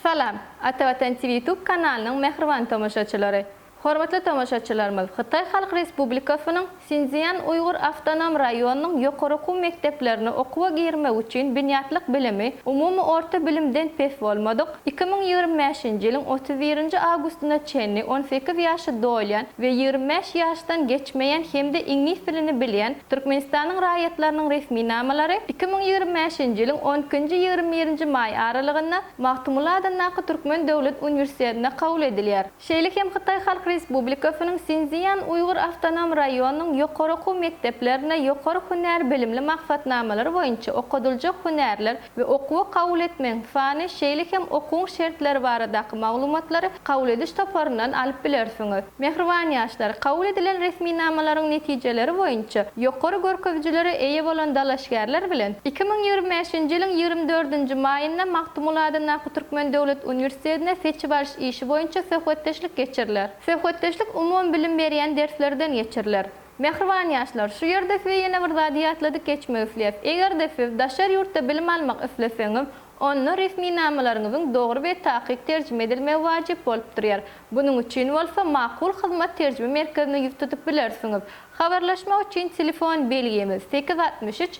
Salam, Atavatan TV YouTube kanalynyň mähriban tomaşaçylary! Hormatly tomaşaçylarymyz, Hytaý Halk Respublikasynyň Sinszýan uýgur awtonom raýonynyň ýokary okuw mekdeplerine okuwa girmek üçin binýatlyk bilimi umumy orta bilimden pes bolmadyk, Iki müň ýigrimi bäşinji ýylyň otuz birinji awgustyna çenli on sekiz ýaşy dolýan we ýigrimi bäş ýaşdan geçmeýän hem-de iňlis dilini bilýän Türkmenistanyň raýatlarynyň resminamalary iki müň ýigrimi bäşinji ýylyň on ikinji, ýigrimi birinji maý aralygynda Magtymguly adyndaky Türkmen döwlet uniwersitetinde kabul edilýär. Şeýle hem Hytaý Halk Respublikasynyň Sinszýan uýgur awtonom raýonynyň ýokary okuw mekdeplerinde ýokary hünär bilimli maksatnamalary boýunça okadyljak hünärler we okuwa kabul etmegiň sany, şeýle hem okuwyň şertleri baradaky maglumatlary kabul ediş toparyndan alyp bilersiňiz. Mähriban ýaşlar, kabul edilen resminamalaryň netijeleri boýunça ýokary görkezijilere eýe bolan dalaşgärler bilen iki müň ýigrimi bäşinji ýylyň ýigrimi dördünji maýynda Magtymguly adyndaky Türkmen döwlet uniwersitetinde seçip alyş işi boýunça söhbetdeşlik geçiriler. Söhbetdeşlik umumybilim berýän derslerden geçiriler. Mähriban ýaşlar, şu ýerde size ýene bir zady ýatladyp geçmek isleýäs. Eger-de siz daşary ýurtda bilim almak isleseňiz, onda resminamalaryňyzyň dogry we takyk terjime edilmegi wajyp bolup durýar. Bunuň üçin bolsa Makul hyzmat terjime merkezine ýüz tutup bilersiňiz. Habarlaşmak üçin telefon belgimiz, sekiz altmyş üç,